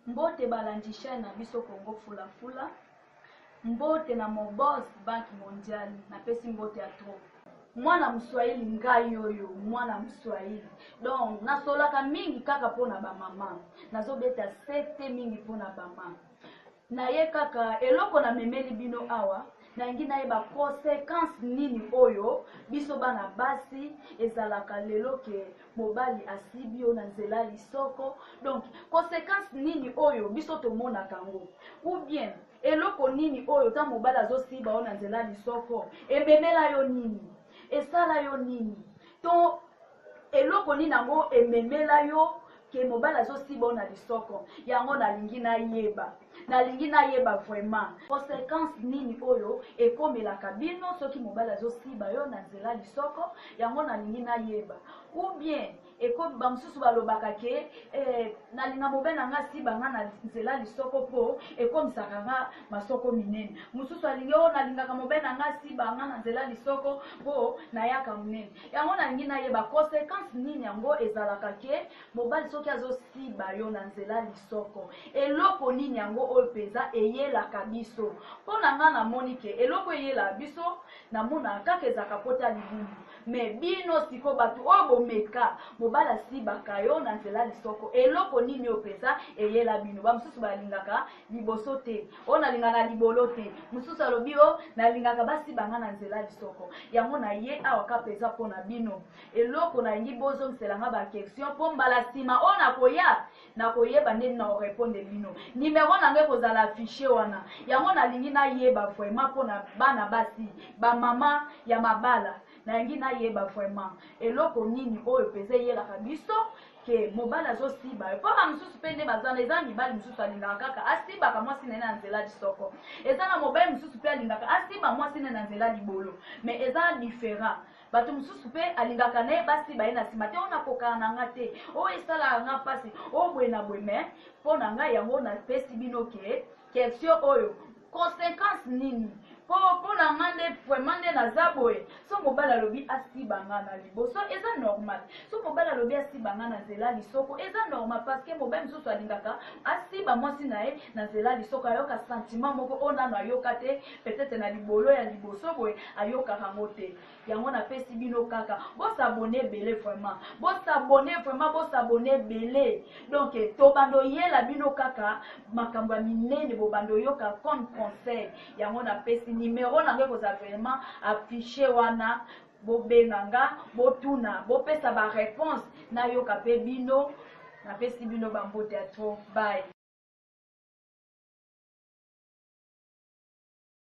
Mbote balandi chaine na biso Congo fula fula mbote na mon boss banque mondiale na pesi mbote ya trop. Mwana muswahili ngai oyo mwana muswahili donc nasolaka mingi kaka pona ba mama nazobeta sete mingi pona bama naye kaka eloko na memeli bino awa nalingi nayeba consequence nini oyo biso bana basi ezalaka lelo ke mobali asibi yo na nzela ya lisoko donc consequence nini oyo biso tomonaka yango ou bien eloko nini oyo ntango mobali azosiba yo na nzela ya lisoko ememela yo nini esala yo nini to Eloko nini yango ememela yo ke mobali azosiba yo na lisoko? Yango nalingi nayeba, nalingi nayeba vraiment. Consequence nini oyo ekomelaka bino soki mobali azosiba yo na nzela lisoko? Yango nalingi nayeba. Ou bien eko bamosusu balobaka ke eh, nalinga mobali na nga asiba nga na nzela lisoko po ekomisaka nga masoko minene. Mosusu alingi o oh, nalingaka mobali na nga asiba nga na nzela lisoko po nayaka monene. Yango nalingi nayeba consequence nini yango ezalaka ke mobali soki azosiba yo na nzela lisoko eloko nini yango oyo mpenza eyelaka biso mpo na ngai namoni ke eloko eyelaka biso namonaka kaka ezalaka mpota libumu me bino siko bato oyo bomeka mobali asibaka yo na nzela lisoko eloko nini oyo mpenza eyela bino bamosusu balingaka liboso te o oh, nalingaka libolo te mosusu alobi o oh, nalingaka basibanga na nzela lisoko yango na ye awa kapa eza mpo na bino eloko nalingi bozongiselanga baquestion mpo mbala nsima oyo oh, nakoya nakoyeba ndeni na orepondre bino nimero na ngai ekozala affiche wana yango nalingi nayeba vraiment mpo na bana basi bamama ya mabala nalingi nayeba vraiment eloko nini oyo mpenza eyelaka biso ke mobali azosiba yo mpo ba mosusu mpe nde baza na eza na mibali mosusu alingaka kaka asibaka mwasi na ye na nzela lisoko eza na mobali mosusu mpe alingaka asiba mwasi na ye na nzela libolo me eza différent bato mosusu mpe alingaka na ye basiba ye na nsima te oyo nakokaka na nga te oyo esalaka nga mpasi oyo boye na boye me mpo na ngai yango napesi bino ke question oyo consequence nini po po na nga nde vraiment nde naza boye so mobali alobi asiba nga na liboso eza normal so mobali alobi asiba nga na nzela lisoko eza normal parce que mobali mosusu alingaka asiba mwasi na ye na nzela lisoko ayoka sentiment moko oyo nano ayoka te peut-être na libolo ya liboso boye ayokaka ngo te yango napesi bino kaka bosabone ebele vraiment bosabone vraiment bosabone ebele donk tobanda oyela bino kaka makambo ya minene bobanda oyoka comme conseil yango napesi nimero nango ekozala vraiment affiche wana bobenga nga botuna bopesa bareponse nayoka mpe bino napesi bino bambote ya tro bay